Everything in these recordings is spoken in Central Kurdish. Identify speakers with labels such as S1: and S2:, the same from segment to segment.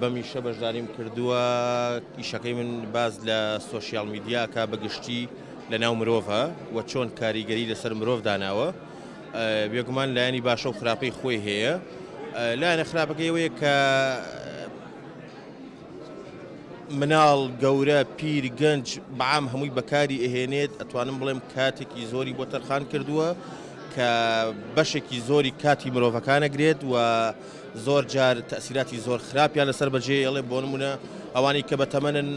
S1: بەم ئیشە بەشداریم کردووە ئیشەکەی من باز لە سۆشیال میدیاکە بەگشتی لە ناو مرۆڤە و چۆن کاریگەری لەسەر مرۆڤ داناوە بێگومان لایەنی باشە و خراپەی خۆی هەیە لایەنە خراپەکەی ئەوەیە کە مناڵ گەورە پیر گەنج بەعام هەمووی بەکاری ئەهێنێت ئەتوانم بڵێم کاتێکی زۆری بۆ تەرخان کردووە کە بەشێکی زۆری کاتی مرۆڤەکانەگرێت و زۆر جار تەئسیراتی زۆر خراپیان لەسەر بەجێ یەڵێ بۆ نمونە ئەوانەی کە بەتەمەنن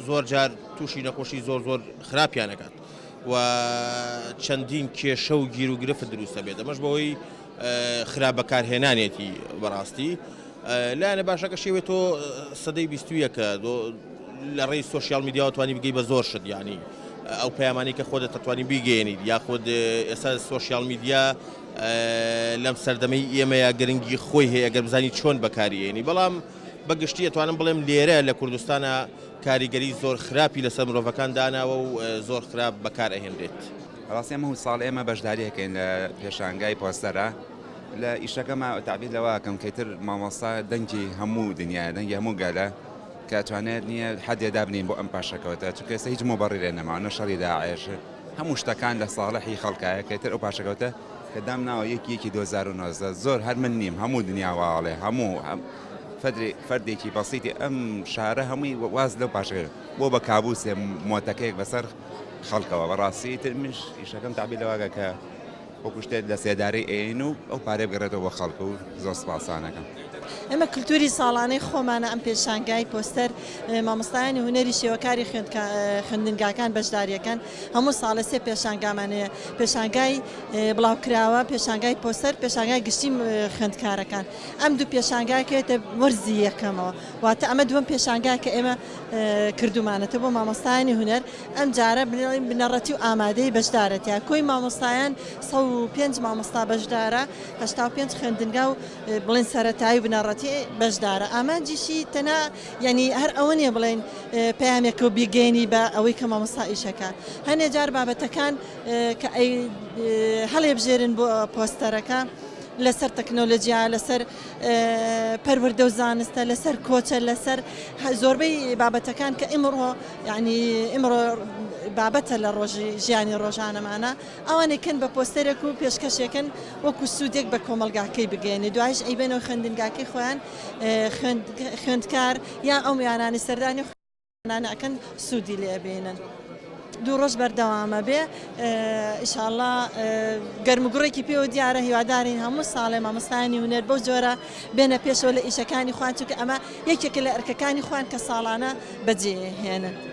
S1: زۆر جار تووشی نەخۆشی زۆر زۆر خراپیان دەکات و چەندین کێشە و گیر و گرفت دروستە بێت ئەمەش بەوەی خراپ بەکارهێنانێتی بەڕاستی لایەنە باشەکە شێوێت تۆ سەدەی بیستویەکە لە ڕێی سوسیال میدیاوە توانی بگەی بە زۆر شت ینی ئەو پەیامانی کە خۆ دەتەتوانی بیگەێنیت یاخود ئێستا سوسیال میدیا لەم سەردەمەی ئێمەیا گرنگی خۆی هەیە ئەگەر بزانی چۆن بەکاری ئێنی بەڵام بە گشتی ئەتوانم بڵێم لێرە لە کوردستانە کاریگەری زۆر خراپی لەسەر مرۆڤەکان داناوە و زۆر خراپ بەکار ئەهێنرێت. ڕاستی ئەمە و
S2: ساڵ ئێمە بەشداریەکەین لە پێشانگای پۆستەرە لە ئیشەکەمە تابیر لەواکەم کەتر مامۆستا دەنگی هەموو دنیا دەنگی هەموو گەلە کە توانێت نییە حەدێ دابنین بۆ ئەم پاشەکەوتە چکەسە هیچ مۆبڕی لێ نەماوە نە شەڕی داعێش هەموو شتەکان لە ساڵحی خەڵکە یەکێ تر ئەو پاشەکەوتە کە دام ناوە یەکی یەکی دوو هەزار و نۆزدە زۆر هەر من نیم هەموو دنیا وا ئەڵێ هەموو هەم فەدری فەردێکی بەسیتی ئەم شارە هەمووی واز لەو پاشەکە بۆ بە کابوسێ مۆتەکەیەک بەسەر خەڵکەوە بەڕاستی تر منش ئیشەکەم تابی لەواگە کە وەکو شتێک لە سێدارەی ئەیەین و ئەو پارەیە بگەڕێتەوە بۆ خەڵک و زۆر سوپاسانەکەم. ئەمە کلتوری
S3: ساڵانەی خۆمانە ئەم پێشانگای پۆستەر مامۆستایانی هونەری شێوەکاری خوێندنگاکان بەشداریەکەن هەموو ساڵە سێ پێشانگامان هەیە پێشانگای بڵاوکراوە پێشانگای پۆستەر پێشانگای گشتی خوێندکارەکان ئەم دوو پێشانگاکێتە وەرزی یەکەمەوە واتە ئەمە دووەم پێشانگا کە ئێمە کردومانەتە بۆ مامۆستایانی هونەر ئەم جارە بنەڕەتی بنەڕەتی و ئامادەی بەشدارە تیا کۆی مامۆستایان سە پێنج مامۆستا بەشدارە هەشتا و پێنج خوێندنگا و بڵێن سەتایی بنەڕەتی بەشدارە ئامانجیشی تەنا یعنی هەر ئەوە نیە بڵێن پامێکە و بیگەێنی بە ئەوەی کە مامۆستا ئیشەکە هەنێ جار بابەتەکان کە هەڵێبژێرن بۆ پۆستەرەکە لەسەر تەکنۆلژیا لەسەر پەروەردە و زانستە لەسەر کۆچە لەسەر زۆربەی بابەتەکان کە ئیمڕۆ یعنی ئیمڕۆ بابەتە لە ڕۆژی ژیانی ڕۆژانەمانە ئەوانێکن بە پۆستەرێک و پێشکەشێکن وەکو سوودێک بە کۆمەلگاکەی بگەێنێ دوایش ئەیبێنەوە خوێندنگاکەی خۆیان خوێندکار یان ئەو میانانی سەردانی ماناکەن سودی لێ بینن. دوو ڕۆژ بەردەوامە بێ ئیشاءاللە گەرمگوڕێکی پێوە دیارە هیوادارین هەموو ساڵێ مامۆستایانی هونەر بەو جۆرە بێنە پێشەوە لە ئیشەکانی خوان چونکە ئەمە یەکێکە لە ئەرکەکانی خوان کە ساڵانە بەجێهێنن